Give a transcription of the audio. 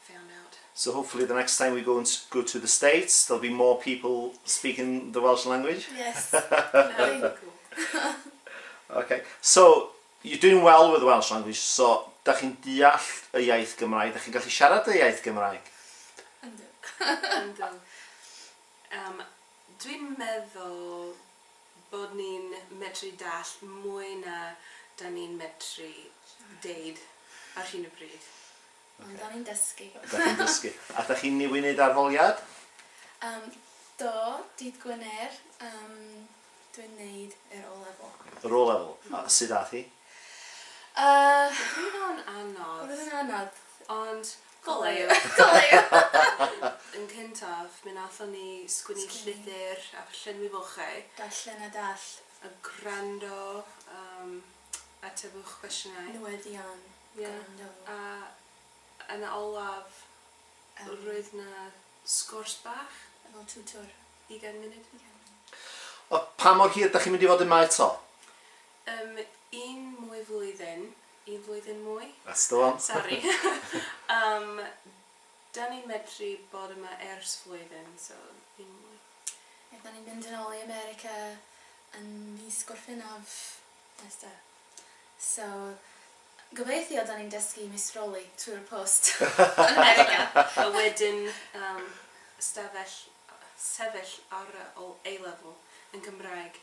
found out. So hopefully the next time we go and go to the States there'll be more people speaking the Welsh language. Yes. ok, so you're doing well with the Welsh language, so da chi'n deall y iaith Gymraeg, da chi'n gallu siarad y iaith Gymraeg? Yndw. Yndw. Um, Dwi'n meddwl bod ni'n medru dall mwy na da ni'n medru deud ar hyn o bryd. Ond okay. da ni'n dysgu. da chi'n dysgu. A da chi'n niwi wneud arholiad? Um, do, dydd Gwener, um, dwi'n neud yr O-level. Yr O-level? Mm. A sydd ath hi? Uh, Oedd hwnna'n anodd. Oedd hwnna'n anodd. Ond goleio. goleio. Yn cyntaf, mi nathon ni sgwini llythyr a llenwi fochau. Darllen a dall. A gwrando um, Atebwch cwestiynau. Newyddion. Gwrando. Ie. A yn y olaf roedd 'na sgwrs bach. Efo tiwtor. Ugain munud. Ugain munud. O, pa mor hir 'dach chi'n mynd i fod yma eto? Yym, un mwy flwyddyn. Un flwyddyn mwy. That's the one. Sori. Yym. Dan ni'n medru bod yma ers flwyddyn, so ddim mwy. Rydan ni'n mynd yn ôl i America yn mis Gorffennaf nesta. So, gobeithio dan ni'n dysgu meistroli trwy'r post yn America! A wedyn yym stafell, sefyll ar y O A-level yn Gymraeg.